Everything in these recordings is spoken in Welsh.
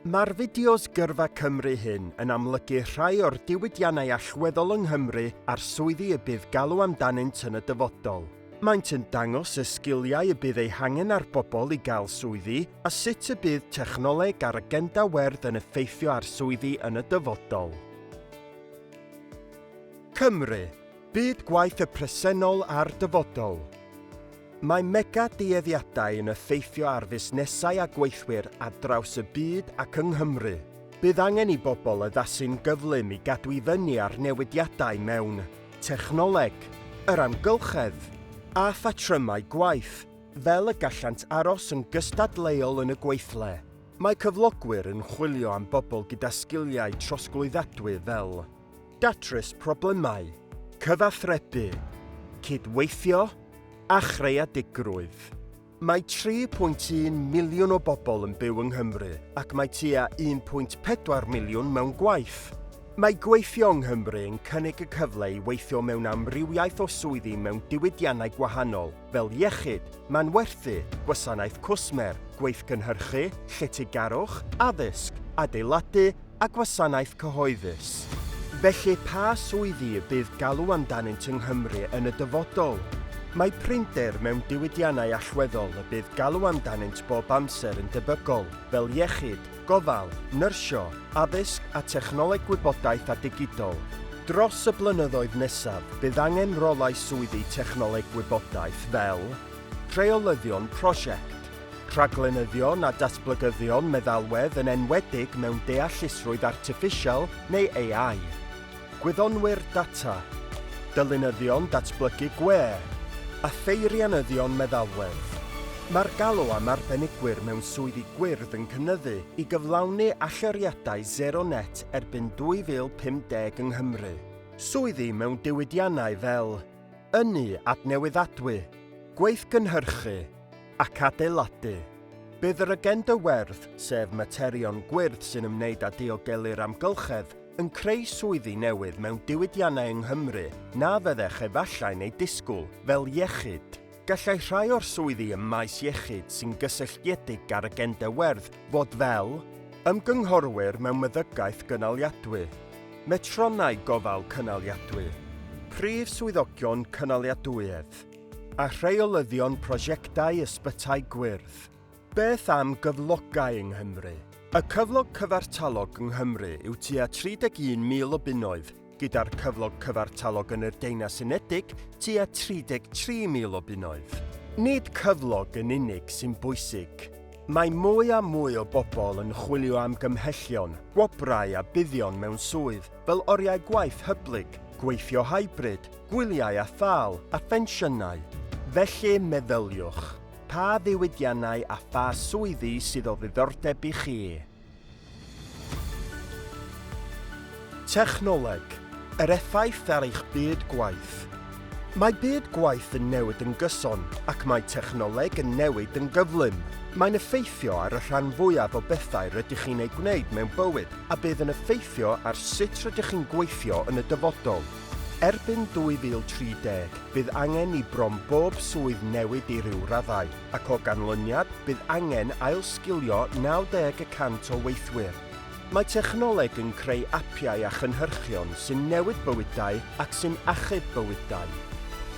Mae'r fideos Gyrfa Cymru hyn yn amlygu rhai o'r diwydiannau allweddol yng Nghymru a'r swyddi y bydd galw amdanynt yn y dyfodol. Maent yn dangos y sgiliau y bydd eu hangen ar bobl i gael swyddi a sut y bydd technoleg a'r agenda werdd yn effeithio ar swyddi yn y dyfodol. Cymru, Byd gwaith y presennol a'r dyfodol. Mae mega dueddiadau yn effeithio ar fusnesau a gweithwyr ar draws y byd ac yng Nghymru. Bydd angen i bobl addasu'n gyflym i gadw i fyny â'r newidiadau mewn technoleg, yr amgylchedd, a phatrymau gwaith, fel y gallant aros yn gystadleuol yn y gweithle. Mae cyflogwyr yn chwilio am bobl gyda sgiliau trosglwyddadwy fel. datrys problemau, cyfathrebu, cydweithio a chreadigrwydd. Mae 3.1 miliwn o bobl yn byw yng Nghymru ac mae tua 1.4 miliwn mewn gwaith. Mae gweithio yng Nghymru yn cynnig y cyfle i weithio mewn amrywiaeth o swyddi mewn diwydiannau gwahanol, fel iechyd, manwerthu, gwasanaeth cwsmer, gweithgynhyrchu, lletygarwch, addysg, adeiladu a gwasanaeth cyhoeddus. Felly, pa swyddi y bydd galw amdanynt yng Nghymru yn y dyfodol? Mae prinder mewn diwydiannau allweddol y bydd galw amdanynt bob amser yn debygol, fel iechyd, gofal, nyrsio, addysg a technoleg gwybodaeth a digidol. Dros y blynyddoedd nesaf, bydd angen rolau swyddi technoleg gwybodaeth fel, Rheolyddion Prosiect, Rhaglenyddion a Datblygyddion Meddalwedd yn enwedig mewn Deallusrwydd Artiffisial neu AI. Gwyddonwyr data, dylunyddion datblygu gwe a pheirianyddion meddalwedd. Mae'r galw am arbenigwyr mewn swyddi gwyrdd yn cynyddu i gyflawni allyriadau sero net erbyn 2050 yng Nghymru. Swyddi mewn diwydiannau fel ynni adnewyddadwy, gweithgynhyrchu ac adeiladu. Bydd yr agenda werdd, sef materion gwyrdd sy'n ymwneud â diogelu'r amgylchedd, yn creu swyddi newydd mewn diwydiannau yng Nghymru na fyddech efallai'n eu disgwyl, fel iechyd. Gallai rhai o'r swyddi ym maes iechyd sy'n gysylltiedig â'r agenda werdd fod fel, ymgynghorwyr mewn meddygaeth gynaliadwy, metronnau gofal cynaliadwy, prif swyddogion cynaliadwyedd, a rheolyddion prosiectau ysbytai gwyrdd. Beth am gyflogau yng Nghymru? Y cyflog cyfartalog yng Nghymru yw tua 31,000 o bunnoedd, gyda'r cyflog cyfartalog yn yr Deunas Unedig tua 33,000 o bunnoedd. Nid cyflog yn unig sy'n bwysig. Mae mwy a mwy o bobl yn chwilio am gymhellion, gwobrau a buddion mewn swydd fel oriau gwaith hyblyg, gweithio hybrid, gwyliau a thâl, a phensiynau. Felly, meddyliwch. Pa ddiwydiannau a pha swyddi sydd o ddiddordeb i chi? Technoleg, yr effaith ar eich byd gwaith. Mae byd gwaith yn newid yn gyson, ac mae technoleg yn newid yn gyflym. Mae'n effeithio ar y rhan fwyaf o bethau rydych chi'n eu gwneud mewn bywyd a bydd yn effeithio ar sut rydych chi'n gweithio yn y dyfodol. Erbyn 2030, bydd angen i bron bob swydd newid i ryw raddau, ac o ganlyniad, bydd angen ailsgilio 90 y cant o weithwyr. Mae technoleg yn creu apiau a chynhyrchion sy'n newid bywydau ac sy'n achub bywydau.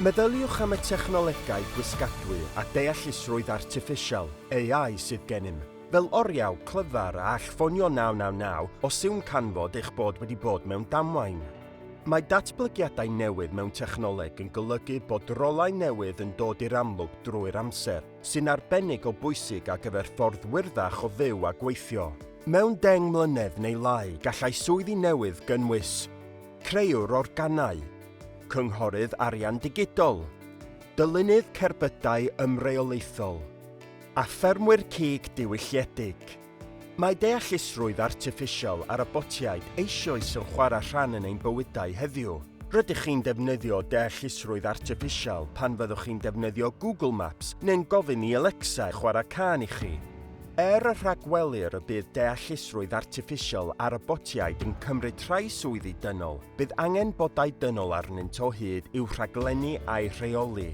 Meddyliwch am y technolegau gwisgadwy a deallusrwydd artiffisial, AI, sydd gennym, fel oriau clyfar a all ffonio 999 os yw'n canfod eich bod wedi bod mewn damwain. Mae datblygiadau newydd mewn technoleg yn golygu bod rolau newydd yn dod i'r amlwg drwy'r amser, sy'n arbennig o bwysig ar gyfer ffordd wyrddach o fyw a gweithio. Mewn deng mlynedd neu lai gallai swyddi newydd gynnwys, Creuwr organau, Cynghorydd arian digidol, Dylunydd cerbydau ymreolaethol, a Ffermwyr cig diwylliedig. Mae deallusrwydd artiffisial a robotiaid eisioes yn chwarae rhan yn ein bywydau heddiw. Rydych chi'n defnyddio deallusrwydd artiffisial pan fyddwch chi'n defnyddio Google Maps neu'n gofyn i Alexa chwarae cân i chi. Er y rhagwelir y bydd deallusrwydd artiffisial a robotiaid yn cymryd rhai swyddi dynol, bydd angen bodau dynol arnynt o hyd i'w rhaglennu a'u rheoli.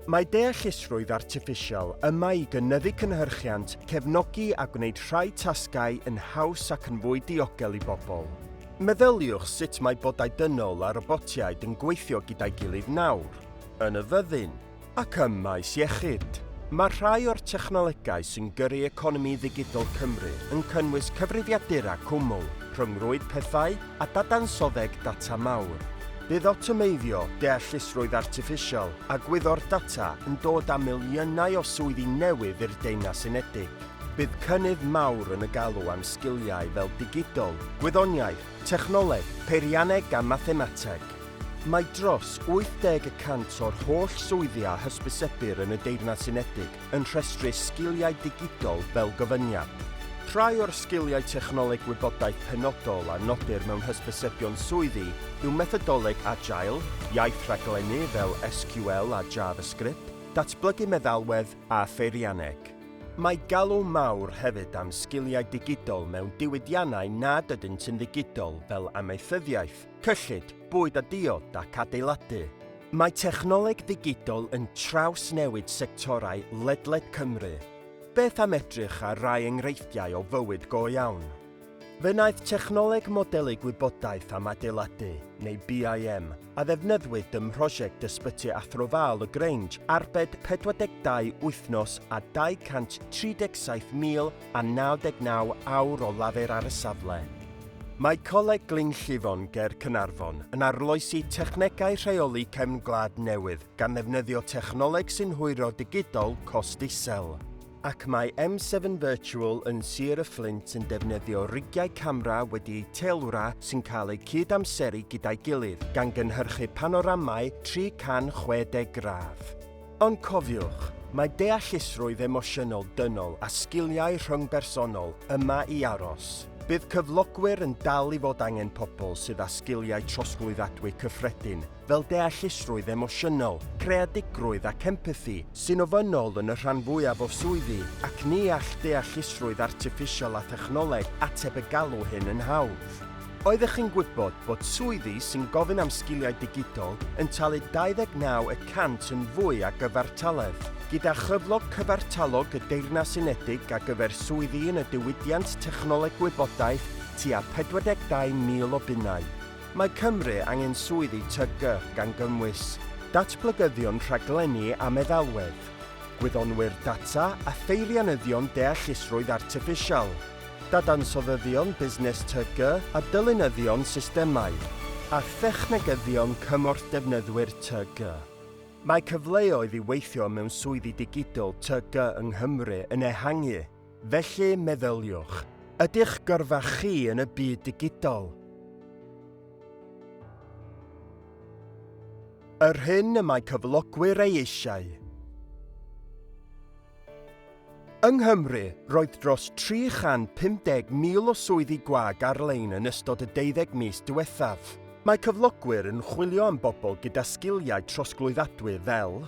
Mae deallusrwydd artiffisial yma i gynyddu cynhyrchiant, cefnogi a gwneud rhai tasgau yn haws ac yn fwy diogel i bobl. Meddyliwch sut mae bodau dynol a robotiaid yn gweithio gyda'i gilydd nawr, yn y fyddin, ac ym maes iechyd. Mae rhai o'r technolegau sy'n gyrru economi ddigidol Cymru yn cynnwys cyfrifiadura cwmwl, rhyngrwyd pethau, a dadansoddeg data mawr. Bydd awtomeiddio, deallusrwydd artiffisial a gwyddor data yn dod â miliynau o swyddi newydd i'r Deyrnas Unedig. Bydd cynnydd mawr yn y galw am sgiliau fel digidol, gwyddoniaeth, technoleg, peirianneg a mathemateg. Mae dros 80 y cant o'r holl swyddi a hysbysebir yn y Deyrnas Unedig yn rhestru sgiliau digidol fel gofyniad. Rhai o'r sgiliau technoleg gwybodaeth penodol a nodir mewn hysbysebion swyddi yw methodoleg Agile, iaith rhaglennu fel SQL a JavaScript, datblygu meddalwedd a pheirianneg. Mae galw mawr hefyd am sgiliau digidol mewn diwydiannau nad ydynt yn ddigidol fel amaethyddiaeth, cyllid, bwyd a diod ac adeiladu. Mae technoleg ddigidol yn trawsnewid sectorau ledled Cymru. Beth am edrych ar rai enghreifftiau o fywyd go iawn? Fe wnaeth technoleg modelu gwybodaeth am adeiladu, neu BIM, a ddefnyddiwyd ym mhrosiect Ysbyty Athro Val y Grange arbed 42 wythnos a 237,000 a 99 awr o lafur ar y safle. Mae Coleg Glyn Llifon ger Caernarfon yn arloesi technegau rheoli cefn gwlad newydd gan ddefnyddio technoleg sy'n hwyro digidol cost isel. Ac mae M7 Virtual yn Sir y Fflint yn defnyddio rigiau camera wedi eu teilwra sy'n cael eu cyd-amseru gyda'i gilydd, gan gynhyrchu panoramau 360 gradd. Ond cofiwch, mae deallusrwydd emosiynol dynol a sgiliau rhyngbersonol yma i aros. Bydd cyflogwyr yn dal i fod angen pobl sydd â sgiliau trosglwyddadwy cyffredin, fel deallusrwydd emosiynol, creadigrwydd ac empathi, sy'n ofynnol yn y rhan fwyaf o swyddi, ac ni all deallusrwydd artiffisial a thechnoleg ateb y galw hyn yn hawdd. Oeddech chi'n gwybod bod swyddi sy'n gofyn am sgiliau digidol yn talu 29 y cant yn fwy a gyfartaledd, gyda chyflog cyfartalog y Deyrnas Unedig ar gyfer swyddi yn y diwydiant technoleg gwybodaeth tua 42,000 o bunnau? Mae Cymru angen swyddi TG, gan gynnwys datblygyddion rhaglenni a meddalwedd, gwyddonwyr data a pheirianyddion deallusrwydd artiffisial. dadansoddyddion busnes TG a dylunyddion systemau a thechnegyddion cymorth defnyddwyr TG. Mae cyfleoedd i weithio mewn swyddi digidol TG yng Nghymru yn ehangu, felly meddyliwch, Ydych gyrfa chi yn y byd digidol? Yr hyn y mae cyflogwyr ei eisiau. Yng Nghymru, roedd dros 350,000 o swyddi gwag ar-lein yn ystod y deuddeg mis diwethaf. Mae cyflogwyr yn chwilio am bobl gyda sgiliau trosglwyddadwy fel,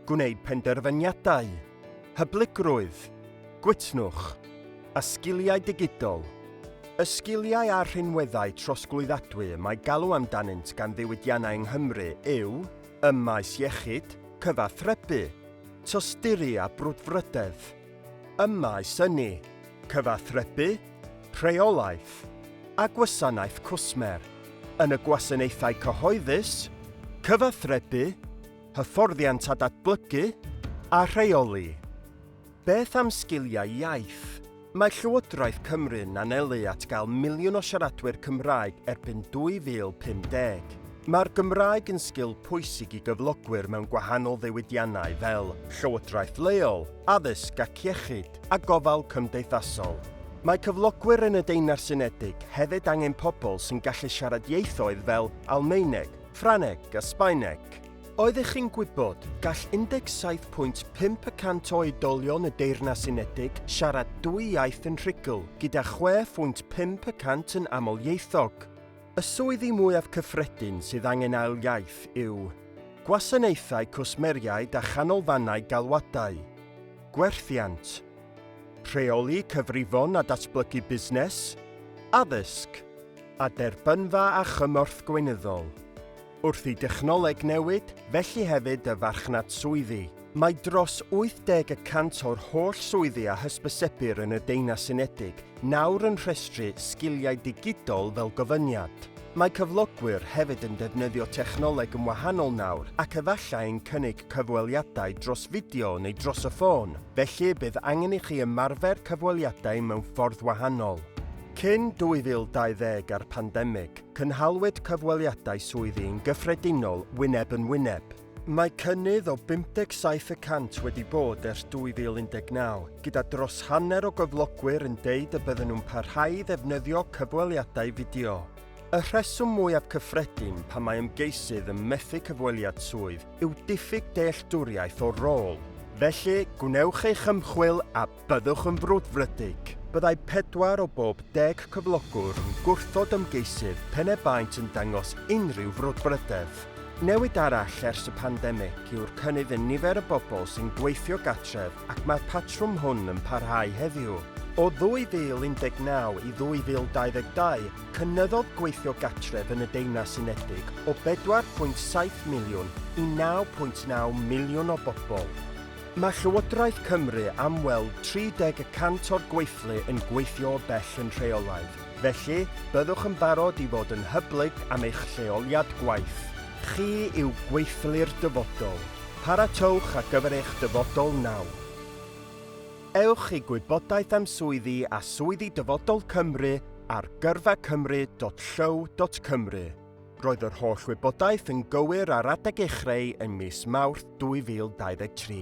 gwneud penderfyniadau, hyblygrwydd, gwytnwch, a sgiliau digidol. Y sgiliau a'r rhinweddau trosglwyddadwy y mae galw amdanynt gan ddiwydiannau yng Nghymru yw ym maes iechyd, cyfathrebu, tosturi a brwdfrydedd, ym maes ynni, cyfathrebu, rheolaeth a gwasanaeth cwsmer, yn y gwasanaethau cyhoeddus, cyfathrebu, hyfforddiant a datblygu a rheoli. Beth am sgiliau iaith? Mae Llywodraeth Cymru'n anelu at gael miliwn o siaradwyr Cymraeg erbyn 2050. Mae'r Gymraeg yn sgil pwysig i gyflogwyr mewn gwahanol ddiwydiannau fel llywodraeth leol, addysg ac iechyd, a gofal cymdeithasol. Mae cyflogwyr yn y Deyrnas Unedig hefyd angen pobl sy'n gallu siarad ieithoedd fel Almaeneg, Ffrangeg a Sbaeneg. Oeddech chi'n gwybod, gall 17.5 y cant o oedolion y Deyrnas Unedig siarad dwy iaith yn rhugl, gyda 6.5 y cant yn amlieithog. Y swyddi mwyaf cyffredin sydd angen ail iaith yw Gwasanaethau Cwsmeriaid a Chanolfannau Galwadau, Gwerthiant, Rheoli Cyfrifon a Datblygu Busnes, Addysg, a Derbynfa a Chymorth Gweinyddol. Wrth i dechnoleg newid, felly hefyd y farchnad swyddi. Mae dros 80 y cant o'r holl swyddi a hysbysebir yn y Deunas Unedig nawr yn rhestru sgiliau digidol fel gofyniad. Mae cyflogwyr hefyd yn defnyddio technoleg yn wahanol nawr ac efallai'n cynnig cyfweliadau dros fideo neu dros y ffôn, felly y bydd angen i chi ymarfer cyfweliadau mewn ffordd wahanol. Cyn 2020 a'r pandemig, Cynhaliwyd cyfweliadau swyddi yn gyffredinol wyneb yn wyneb. Mae cynnydd o 57 y cant wedi bod ers 2019, gyda dros hanner o gyflogwyr yn deud y bydden nhw'n parhau i ddefnyddio cyfweliadau fideo. Y rheswm mwyaf cyffredin pan mae ymgeisydd yn methu cyfweliad swydd yw diffyg dealltwriaeth o'r rôl. Felly, gwnewch eich ymchwil a Byddwch yn frwdfrydig. Byddai pedwar o bob deg cyflogwr yn gwrthod ymgeisydd pen e baent yn dangos unrhyw frwdfrydedd. Newid arall ers y pandemig yw'r cynnydd yn nifer y bobl sy'n gweithio gartref ac mae'r patrwm hwn yn parhau heddiw. O 2019 i 2022, cynyddodd gweithio gartref yn y Deyrnas Unedig o 4.7 miliwn i 9.9 miliwn o bobl. Mae Llywodraeth Cymru am weld 30 y cant o'r gweithlu yn gweithio o bell yn rheolaidd, felly byddwch yn barod i fod yn hyblyg am eich lleoliad gwaith. Chi yw gweithlu'r dyfodol. Paratowch ar gyfer eich dyfodol nawr. Ewch i gwybodaeth am swyddi a swyddi Dyfodol Cymru ar gyrfacymru.llyw.cymru. Roedd yr holl wybodaeth yn gywir ar adeg ei chreu yn mis Mawrth 2023.